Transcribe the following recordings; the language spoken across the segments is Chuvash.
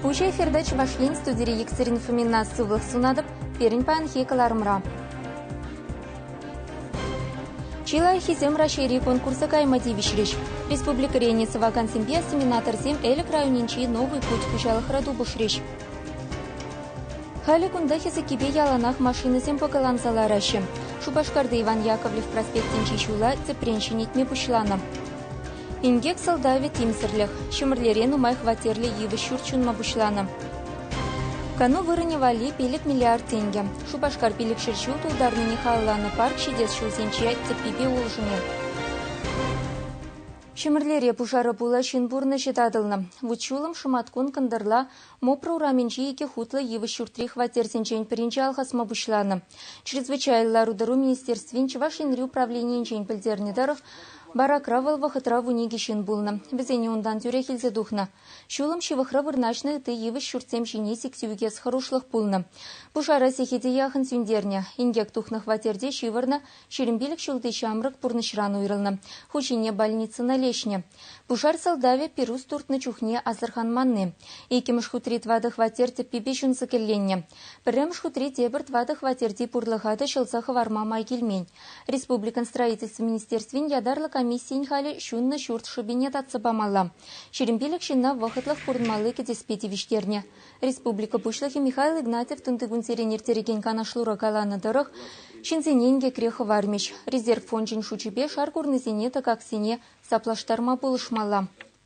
Пуҫ эфирта Чӑваш Ен студири иксӗрин фомина сывлӑх сунатӑп пирӗн паянхи кӑларӑмра. Чи лайӑххисем Раҫҫейри конкурса кайма тивӗҫрӗҫ. Республикӑрен сӑвакансемпе осеменаторсем Элӗк районӗнчи Новый путь хуҫалӑхра тупӑшрӗҫ. Халӗ кунта хӗсӗккипе яланах машинӑсем пӑкӑланса лараҫҫӗ. Шупашкарти Иван Яковлев проспектӗнчи ҫула тӗпрен ҫӗнетме пуҫланӑ. Инкек сӑлтавӗ тимсӗрлӗх. Ҫӗмӗрлере нумай хваттерлӗ йывӑҫ ҫурт ҫунма пуҫланӑ. Кану вырӑнӗ валли пилӗк миллиард тенкӗ. Шупашкар пилӗкҫӗр ҫул тултарнине халалланӑ парк ҫитес ҫулсенче тӗппипе улшӑнӗ. Ҫӗмӗрлере пушара пула ҫын пурнӑҫӗ татӑлнӑ. Вут-ҫулӑм шӑматкун кӑнтӑрла Мопро урамӗнчи икӗ хутлӑ йывӑҫ ҫуртри хваттерсенчен пӗринче алхасма пуҫланӑ. Чрезвычайлӑ лару-тӑру министерствин Чӑваш Енри управленийӗнчен пӗлтернӗ тӑрӑх, баракра вӑл вӑхӑтра вун икӗ ҫын пулнӑ. Вӗсене унтан тӳрех илсе тухнӑ. Ҫулӑм ҫывӑхра вырнаҫнӑ ытти йывӑҫ ҫуртсем ҫине сиксе ӳкес хӑрушлӑх пулнӑ. Пушара сехете яхӑн сӳнтернӗ. Инкек тухнӑ хваттерте ҫывӑрнӑ, ҫирӗм пилӗк ҫулти ҫамрӑк пурнӑҫран уйрӑлнӑ. Ху ҫине больницӑна леҫнӗ. Пушар сӑлтавӗ пирус туртнӑ чухне асӑрханманни. Иккӗмӗш хутри тӑватӑ хваттер тӗппипе ҫунсӑк элленнӗ. Пӗрремӗш хутри тепӗр тӑватӑ хваттерти пурлӑха та ҫӑлса хӑварма май килмен. Республикӑн Строительство министерствин ятарлӑ комиссийӗн халӗ ҫуннӑ ҫурт шӑпине татса памалла. Ҫирӗмпилӗк ҫынна вӑхӑтлӑх пурӑнмалли кӗтеспе тивӗҫтернӗ. Республика Пуҫлӑхӗ Михаил Игнатьев тунтикунсерен ирттерекен канашлура каланӑ тӑрӑх, ҫынсене инкекре хӑвармӗҫ. Резерв фончӗн шучӗпе шар курнисене тӑкаксене саплаштарма пулӑшмалла.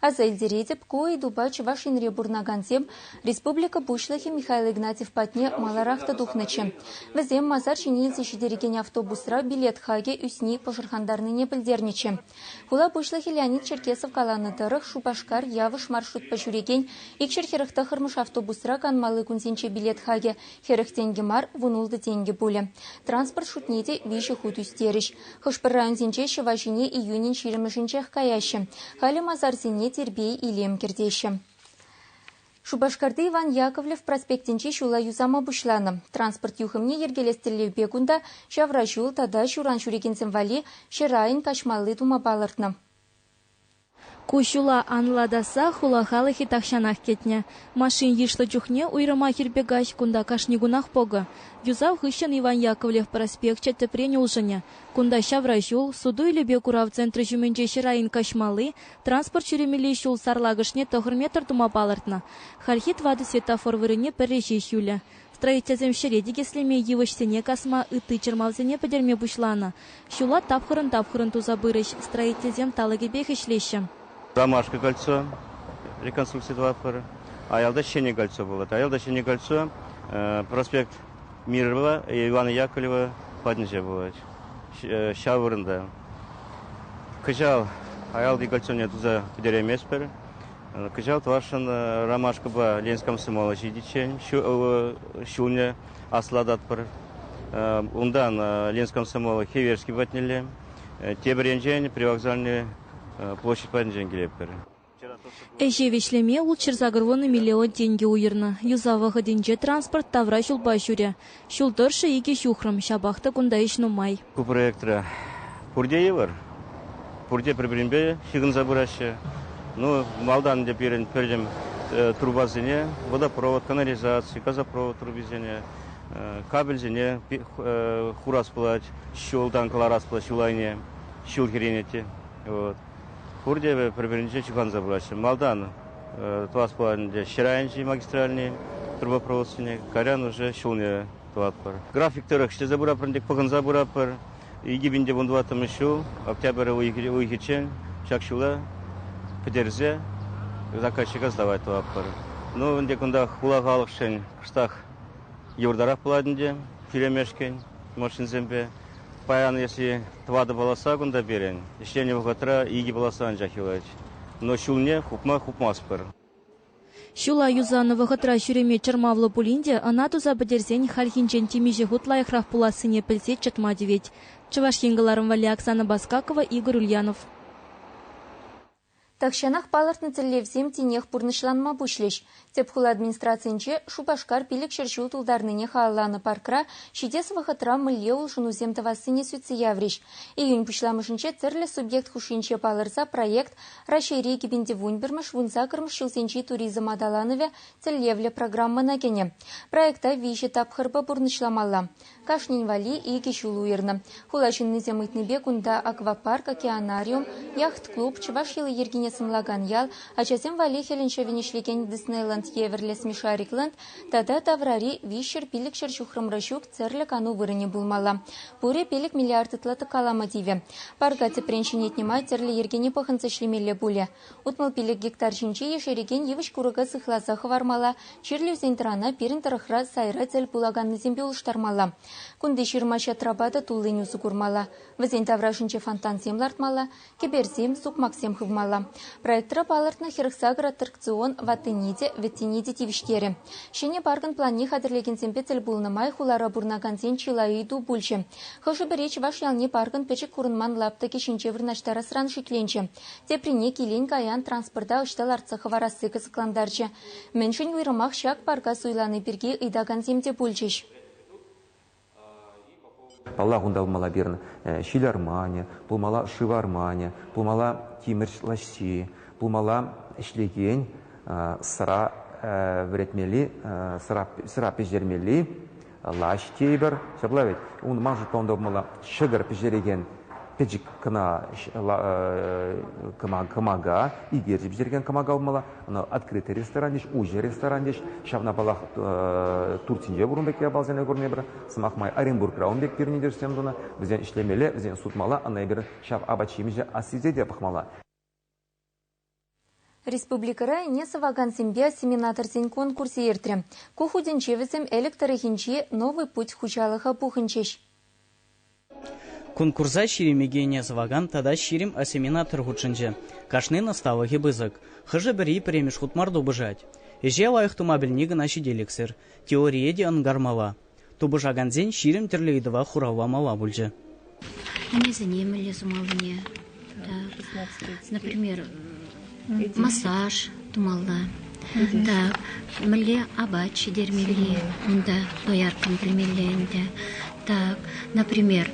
Аса илтеретӗп, ку ыйтупа Чӑваш Енре пурӑнакансем республика Пуҫлӑхӗ Михаил Игнатьев патне маларах та тухнӑччӗ. Вӗсем масар ҫине илсе ҫитерекен автобусра билет хакӗ ӳсни пӑшӑрхантарнине пӗлтернӗччӗ. Хула пуҫлӑхӗ Леонид Черкесов каланӑ тӑрӑх, Шупашкар, Явӑш маршрутпа ҫӳрекен икҫӗр хӗрӗх тӑххӑрмӗш автобусра канмалли кунсенче билет хакӗ Хӗрӗх тенкӗ мар, вунултӑ тенкӗ пулӗ. Транспорт шутне те виҫӗ хут ӳстерӗҫ. Хӑш-пӗр районсенче ҫӑва ҫине июнӗн ҫирӗммӗшӗнчех каяҫҫӗ. Халӗ масарсене тирпей-илем кӗртеҫҫӗ. Шупашкарти Иван Яковлев проспектӗнче ҫула юсама пуҫланӑ. Транспорт юхӑмне йӗркелес тӗллевпе кунта ҫавраҫул тата ҫуран ҫӳрекенсем валли ҫӗр айӗн каҫмалли тума палӑртнӑ. Ку ҫула анлатаса хула халӑхӗ тахҫанах кӗтнӗ. Машин йышлӑ чухне уйрӑмах ирпе каҫ кунта кашни кунах пӑкӑ. Юсав хыҫҫӑн Иван Яковлев проспекчӗ тӗпрен улшӑнӗ. Кунта ҫавра ҫул, суту-илӳпе курав центрӗ ҫумӗнче ҫӗр айӗн каҫмалли, транспорт ҫӳремелли ҫул сарлакӑшне тӑхӑр метр тума палӑртнӑ. Хальхи тӑватӑ светофор вырӑнне пӗрре ҫеҫ юлӗ. Строительсем ҫӗре тикӗслеме, йывӑҫсене касма, ытти чӑрмавсене пӗтерме пуҫланӑ. Ҫула тапхӑрӑн-тапхӑрӑн туса пырӗҫ, строительсем талӑкӗпех ӗҫлеҫҫӗ. Ромашка кольцо, реконструкци тӑватпӑр. Аялта ҫӗнӗ кольцо пулать. Аялта ҫӗнӗ кольцо проспект Мирова, Ивана Яковлева патӗнче пулать. Ҫав вырӑнта. Кӑҫал аялти кольцоне туса пӗтерейместпӗр. Кӑҫал тӑвашшӑн ромашкӑпа Ленинск комсомола ҫитиччен ҫулне аслататпӑр. Унтан Ленинск комсомола Хиверский патнелле, тепӗр енчен Привокзальнӑй площадь патӗнчен килетпӗр. Ӗҫе вӗҫлеме ултҫӑр сакӑр вунӑ миллион тенкӗ уйӑрнӑ. Юсав вӑхӑтӗнче транспорт тавра ҫулпа ҫӳрӗ. Ҫул тӑршшӗ икӗ ҫухрӑм, ҫапах та кунта ӗҫ нумай. Ку проектра пурте йывӑр. Пурте пӗр-пӗринпе ҫыхӑнса пыраҫҫӗ. Ну, малтан ӗнтӗ пирӗн пӗртӗм трубасене, водопровод, канализаци, газопровод трубисене, кабельсене хурас пулать, ҫултан кӑларас пулать ҫул айне, ҫул хӗренет те. Пурте пӗр-пӗринче чухланса пыраҫҫӗ. Малтан тӑвас пулать ӗнтӗ ҫӗр айӗнчи магистральни трубопроводствине, кайран уже ҫулне тӑватпӑр. График тӑрӑх ӗҫлесе пыратпӑр ӗнтӗ, пӑхӑнса пыратпӑр. Икӗ пин те вун тӑваттӑмӗш ҫул, октябрь уйӑхӗччен, ҫак ҫула пӗтерсе заказчика сдавать тӑватпӑр. Ну, ӗнтӗ кунтах хула халӑхшӗн кӑштах йывӑртарах пулать ӗнтӗ, тӳлемешкӗн машинсемпе. Паян, если тӑватӑ полоса кунта пирӗн, ӗҫленӗ вӑхӑтра икӗ полоса анчах юлать. Но ҫулне хупма хупмастпӑр. Ҫула юсанӑ вӑхӑтра ҫӳреме чӑрмавлӑ пулин те ӑна туса пӗтерсен хальхинчен темиҫе хут лайӑхрах пулассине пӗлсе чӑтма тивет. Чӑваш Ен кӑларӑм валли Оксана Баскакова, Игорь Ульянов. Тахҫанах палӑртнӑ тӗллевсем тинех пурнӑҫланма пуҫлӗҫ. Тӗп хула администрацийӗнче Шупашкар пилӗкҫӗр ҫул тултарнине халалланӑ паркра ҫитес вӑхӑтра мӗнле улшӑнусем тӑвассине сӳтсе яврӗҫ. Июнь пуҫламӑшӗнче тӗрлӗ субъект хушшинче палӑрса проект Раҫҫейри кӗпӗнтӗвунпӗрмӗш вунсаккӑрмӗш ҫулсенчи туризм аталанӑвӗ тӗллевлӗ программӑна кӗнӗ. Проекта виҫӗ тапхӑрпа пурнӑҫламалла. Кашнин валли икӗ ҫул уйӑрнӑ. Хула ҫыннисем ыйтнипе кунта аквапарк, океанариум, яхт-клуб, чӑваш йӑли-йӗркине сӑнлакан ял, ачасем валли хӗлӗн ҫӑвӗн ӗҫлекен Диснейланд евӗрлӗ смешарикланд тата таврари виҫҫӗр пилӗкҫӗр ҫухрӑмра ҫук тӗрлӗ кану вырӑнӗ пулмалла. Пурӗ пилӗк миллиард ытла калама тивӗ. Парка тӗпрен ҫӗнетнӗ май тӗрлӗ йӗркене пӑхӑнса ӗҫлемелле пулӗ. Утмӑл пилӗк гектар ҫинче ешерекен йывӑҫ-курӑка сыхласа хӑвармалла, чирлӗ ӳсен-тӑрана пирӗн тӑрӑхра сайра тӗл пулаканнисемпе улӑштармалла. Кунти ҫырма-ҫатра-пата туллин усӑ курмалла, вӗсен таврашӗнче фонтансем лартмалла, кӗперсем, сукмаксем хывмалла. Проектра палӑртнӑ хӗрӗхсакӑр аттракцион ваттине те, вӗттине те тивӗҫтерӗ. Ҫӗнӗ паркӑн планне хатӗрлекенсемпе тӗл пулнӑ май хулара пурӑнакансен чылай ыйту пулчӗ. Хӑшӗ-пӗри чӑваш ялне паркӑн пӗчӗк курӑнман лаптӑкӗ ҫинче вырнаҫтарасран шикленчӗ. Теприне килен-каян транспорта ӑҫта лартса хӑварасси кӑсӑклантарчӗ. Мӗншӗн уйрӑмах ҫак парка суйлани пирки ыйтакансем те пулчӗҫ. Паллах, унта пулмалла пирӗн ҫил арманӗ, пулмалла шыв арманӗ, пулмалла тимӗр лаҫҫи, пулмалла ӗҫлекен сӑра вӗретмелли, сӑра пӗҫермелли лаҫ тейӗпӗр. Ҫапла вӗт. Ман шутпа унта пулмалла ҫӑкӑр пӗҫерекен пӗчӗк кӑна кӑмака, икерчи пӗҫерекен кӑмака пулмалла. Ӑна открытый ресторан тӗҫ, уҫӑ ресторан тӗҫ. Ҫавна палах Турцинче пурӑн пек япалсене курнипӗр. Сӑмах май Оренбургра ун пек пирӗн тӗрӗсем тунӑ. Вӗсен ӗҫлемелле, вӗсен сутмалла. Ӑна эпир ҫав апат-ҫимӗҫе ассисе те пӑхмалла. Республикӑра ӗне сӑвакансемпе семинаторсен конкурсӗ иртрӗ. Ку хутӗнче вӗсем Элӗк тӑрӑхӗнчи Новый путь хуҫалӑха пухӑнчӗҫ. Конкурса ҫирӗммӗке ӗне сӑвакан тата ҫирӗм осеменатор хутшӑнчӗ. Кашнин ӑсталӑхӗ пысӑк. Хӑшӗ-пӗри пӗрремӗш хут мар тупӑшать. Ӗҫе лайӑх тума пӗлни кӑна ҫителӗксӗр. Теорие те ӑнкармалла. Тупӑшакансен ҫирӗм тӗрлӗ ыйтӑва хурав-памалла пулчӗ. Мӗнесене мӗнле сумаллине, например, массаж тумалла, так, мӗнле апат ҫитермелли унта дояркам пӗлмелле ӗнтӗ. Так, например,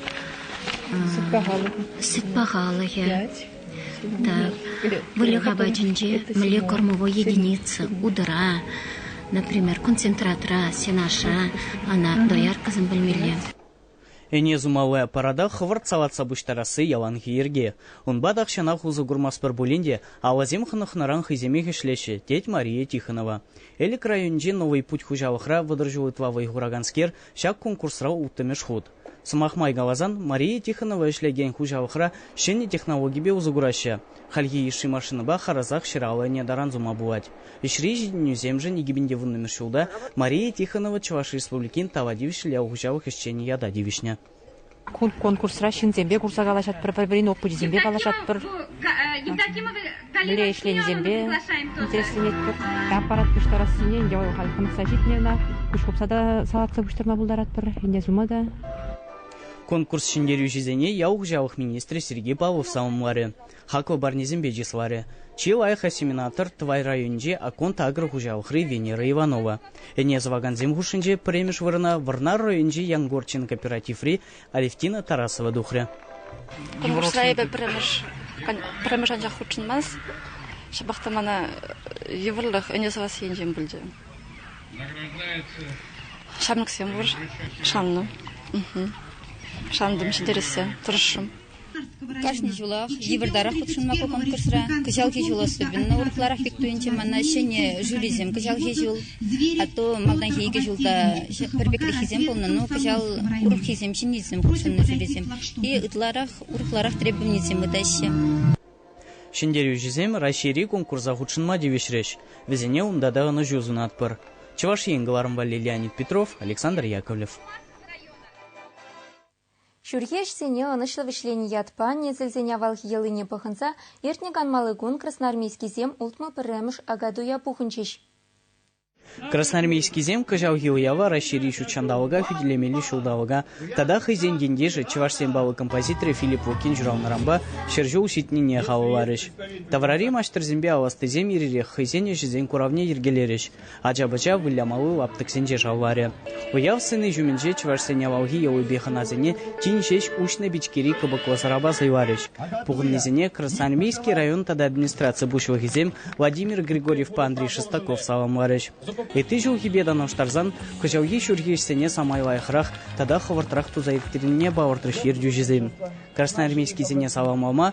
сыт пахалӑхӗ. выльӑх апатӗнче мӗнле кормовой единица, удара, например, концентратра, сенаша, ӑна дояркӑсем пӗлмелле. Ӗне сумалла парада хӑвӑрт салатса пуҫтарасси яланхи йӗрке. Унпа тахҫанах усӑ курмастпӑр пулин те алӑсем хӑнӑхнӑран хӑйсемех ӗҫлеҫҫӗ, тет Мария Тихонова. Элӗк районӗнчи Новый путь хуҫалӑхра вӑтӑр ҫул ытла вӑй хураканскер ҫак конкурсра улттӑмӗш хут. Сӑмах май каласан, Мария Тихонова ӗҫлекен хуҫалӑхра ҫӗнӗ технологипе усӑ кураҫҫӗ. Хальхи йышши машинӑпа харӑсах ҫӗр-алӑ ӗне таран сума пулать. Ӗҫри ҫитӗнӳсемшӗн икӗпин те вуннӑмӗш ҫулта Мария Тихонова Чӑваш Республикин тава тивӗҫлӗ ял хуҫалӑх ӗҫченӗ ята тивӗҫнӗ. Ку конкурсра ҫынсемпе курса калаҫатпӑр, пӗр-пӗрин опычӗсемпе паллашатпӑр. Мӗнле ӗҫленисемпе интересленетпӗр. Аппарат пуҫтарассине ӗнтӗ вӑл халь тытса ҫитнӗ ӑна. Куҫ хупса та салатса пуҫтарма пултаратпӑр. Ӗнтӗ сума та. Конкурс ҫӗнтерӳҫисене ял хуҫалӑх министрӗ Сергей Павлов саламларӗ, хаклӑ парнесемпе чысларӗ. Чи лайӑх осеменатор Тӑвай районӗнчи Акконд агрохуҫалӑхри Венера Иванова, ӗне сӑвакансем хушшинче пӗрремӗш вырӑна Вӑрнар районӗнчи Янгорчин кооперативри Алевтина Тарасова тухрӗ. Кунгурсра эпӗ пӗрремӗш, пӗрремӗш анчах хутшӑнмас. Ҫапах та мана йывӑрлӑх ӗне сӑвас енчен пулчӗ. Ҫамрӑксем пур, шаннӑ. Шантӑм ҫитерессе, тӑрӑшрӑм. Кашни ҫулах йывӑртарах хутшӑнма конкурсра кӑҫалхи ҫул особенно урӑхларах пек туйӑнчӗ мана ҫӗнӗ жюрисем кӑҫалхи ҫул, а то малтанхи икӗ ҫулта пӗр пекреххисем пулнӑ, ну кӑҫал урӑххисем ҫӗннисем хутшӑннӑ жюрисем и ытларах урӑхларах требованисем ытаҫҫӗ. Ҫӗнтерӳҫӗсем Раҫҫейри конкурса хутшӑнма тивӗҫрӗҫ. Вӗсене унта та ӑнӑҫу сунатпӑр. Чӑваш Ен кӑларӑмпа Лилианит Петров, Александр Яковлев. Ҫурхи ӗҫсене ӑнӑҫлӑ вӗҫленӗ ятпа несӗлсен авалхи йӑлине пӑхӑнса иртнӗ канмалли кун красноармейскисем ултмӑл пӗрремӗш акатуя пухӑнчӗҫ. Красноармейскисем кӑҫалхи уява Раҫҫейри ҫут ҫанталӑка хӳтӗлемелли ҫулталӑка тата хӑйсен ентешӗ чӑвашсен паллӑ композиторӗ Филипп Вокин ҫуралнӑранпа ҫӗр ҫул ҫитнине халалларӗҫ. Таврари маҫтӑрсемпе аластисем ир-ирех хӑйсен ӗҫӗсен куравне йӗркелерӗҫ. ача-пӑча вылямалли лаптӑксенче шавларӗ. Уяв сцени ҫумӗнче чӑвашсен авалхи йӑлипе хӑнасене тин ҫеҫ уҫнӑ пичкери кӑпӑклӑ сӑрапа сӑйларӗҫ. Пухӑннисене Красноармейски район тата администраци пуҫлӑхӗсем Владимир Григорьевпа Андрей Шестаков саламларӗҫ. Ытти ҫулхипе танлаштарсан кӑҫалхи ҫурхи ӗҫсене самай лайӑхрах тата хӑвӑртрах туса ирттернине палӑртрӗҫ ертӳҫӗсем. Красноармейскисене саламлама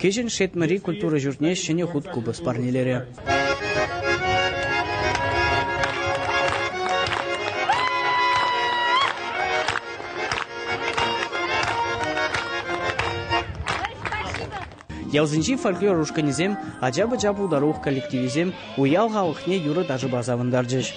Кӗҫӗн Шетмӗри культура ҫуртне ҫӗнӗ хут купӑс парнелерӗ. Ялсенчи фольклор ушкӑнӗсем, ача-пӑча пултарулӑх коллективӗсем уяв халӑхне юрӑ-ташӑпа савӑнтарчӗҫ.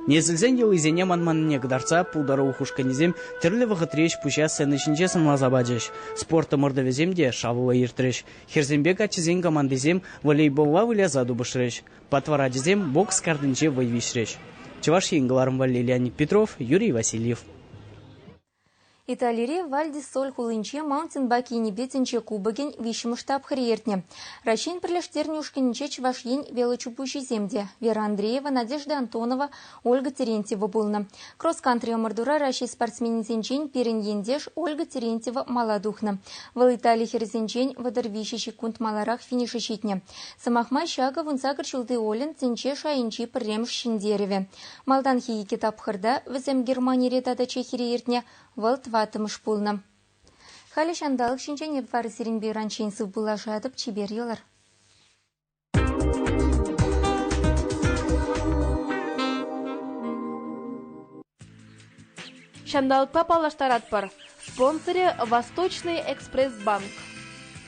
Несӗлсен йӑлисене манманнине кӑтартса пултарулӑх ушкӑнӗсем тӗрлӗ вӑхӑтри ӗҫ-пуҫа сцена ҫинче сӑнласа пачӗҫ. Спорт ӑмӑртӑвӗсем те шавлӑ иртрӗҫ. Хӗрсемпе каччӑсен командисем волейболла выляса тупӑшрӗҫ. Патвар ачисем бокс картинче вӑй виҫрӗҫ. Чӑваш Ен кӑларӑм валли Леонид Петров, Юрий Васильев. Италири Вальдисоль хулинче маунтинбайк енӗпе тӗнче кубокӗн виҫҫӗмӗш тапхӑрӗ иртнӗ. Раҫҫейӗн пӗрлештернӗ ушкӑнӗнче Чӑваш Ен велочупуҫисем те, Вера Андреева, Надежда Антонова, Ольга Терентьева пулнӑ. Кросс-кантри ӑмӑртура Раҫҫей спортсменӗсенчен пирӗн ентеш Ольга Терентьева мала тухнӑ. Вӑл Итали хӗрӗсенчен вӑтӑр виҫӗ ҫеккунт маларах финиша ҫитнӗ. Сӑмах май, ҫакӑ вунсакӑр ҫулти Олен тӗнче шайӗнчи пӗрремӗш ҫӗнтерӗвӗ. Малтанхи икӗ тапхӑрта, вӗсем Германире тата Чехире иртнӗ, вӑл тӑваттӑмӗш пулнӑ. Халӗ ҫанталӑк ҫинчен эп вара сирӗнпе ыранччен сывпуллашатӑп, чипер йӑлӑр. Ҫанталӑкпа паллаштаратпӑр. Спонсорӗ Восточный экспресс-банк.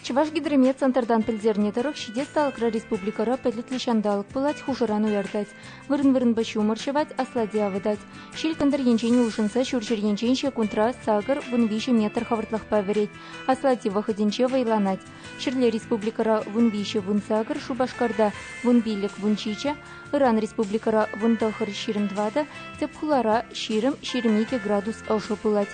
Чӑвашгидроме центртан пӗлтернӗ тӑрӑх, ҫитес талӑкра республикӑра пӗлӗтлӗ ҫанталӑк пулать, хушӑран уяртать. Вырӑн-вырӑнпа ҫумӑр ҫӑвать, аслати авӑтать. Ҫил кӑнтӑр енчен улшӑнса ҫурҫӗр енчен ҫекунтра сакӑр вун виҫӗ метр хӑвӑртлӑхпа вӗрет. Аслати вӑхӑтӗнче вӑйланать. Ҫӗрле республикӑра вун виҫӗ вун сакӑр, Шупашкарта вун пилӗк вун ҫичӗ, ыран республикӑра вун тӑхӑр ҫирӗм тӑватӑ, тӗп хулара ҫирӗм, ҫирӗм икӗ градус ӑшӑ пулать.